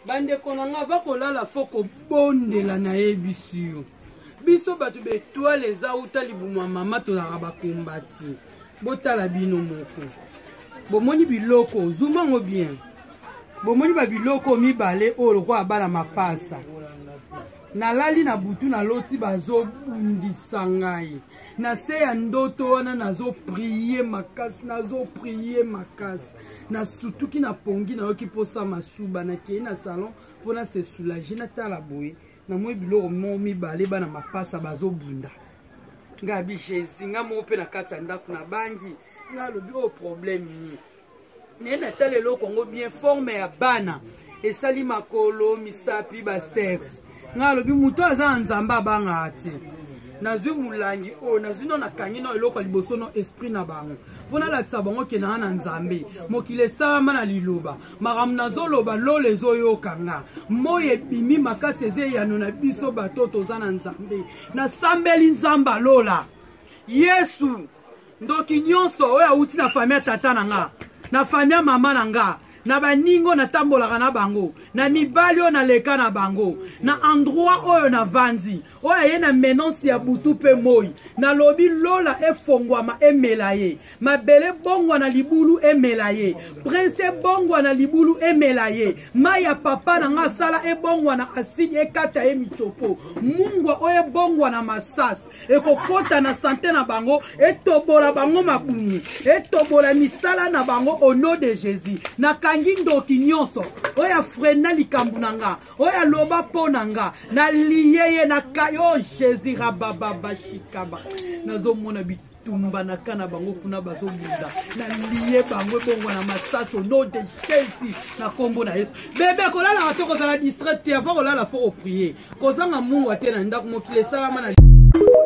bandeko na nga bakolala fo kobondela nayebisi yo biso bato betoile eza uta libumu ya mama tozalaka bakombati botala bino moko bomoni biloko zuma yango bien bomoni babiloko mibale oyo lokola abala mapasa nalali na butu naloti bazobundisa ngai na se ya ndoto wana nazo prie makasi nazo prie makasi nasutuki na pongi nayoki mposa masuba nakei na salon mpo na se soulage natala boye namoni biloko mo mibale bana mapasa bazobunda ngai abi jésus ngai moko mpe na kati ya ndako na bangi ngai alobi oyo oh, problème nini naye natala eloko yango bien forme ya bana esali makolo misapi basexe ngai alobi moto aza na nzambe abangaka te nazwi molangi oyo nazwi no nakangi no eloko ya liboso no esprit na bango mpo nalakisa bango kendanga na nzambe mokili esalama na liloba makambo nazoloba lola ezoyoka nga moi ebimi makasi eza eyano na biso bato toza na nzambe nasambeli nzambe alola yesu ndoki nyonso oyo awuti na fami ya tata na nga na fami ya mama na nga na baningo natambolaka na bango na mibali oyo naleka na bango na endroit oyo navanzi oyo aye na menance ya butu mpe moi nalobi lola efongwama emela ye mabele ebongwa na libulu emela ye prince ebongwa na libulu emela ye mai ya papa na ngai asala ebongwa na aside ekata ye micopo mungwa oyo ebongwa na masasi ekokota na sante na bango etobola bango mabumu etobola misala na bango au nom de jésus nakangi ndoki nyonso oyo afrena likambo na nga oyo aloba mpo na nga naliye ye nakai o oh, jésus rabababashikaba nazomona bit bitumba na ka na bango kuna bazobunda na liye bango ebongwana masasi ono de shesi na nkombo na yesu bebe kolalaka te kozala distrait te avant kolala fo koprie kozanga mungwa te na ndako mokili esalama na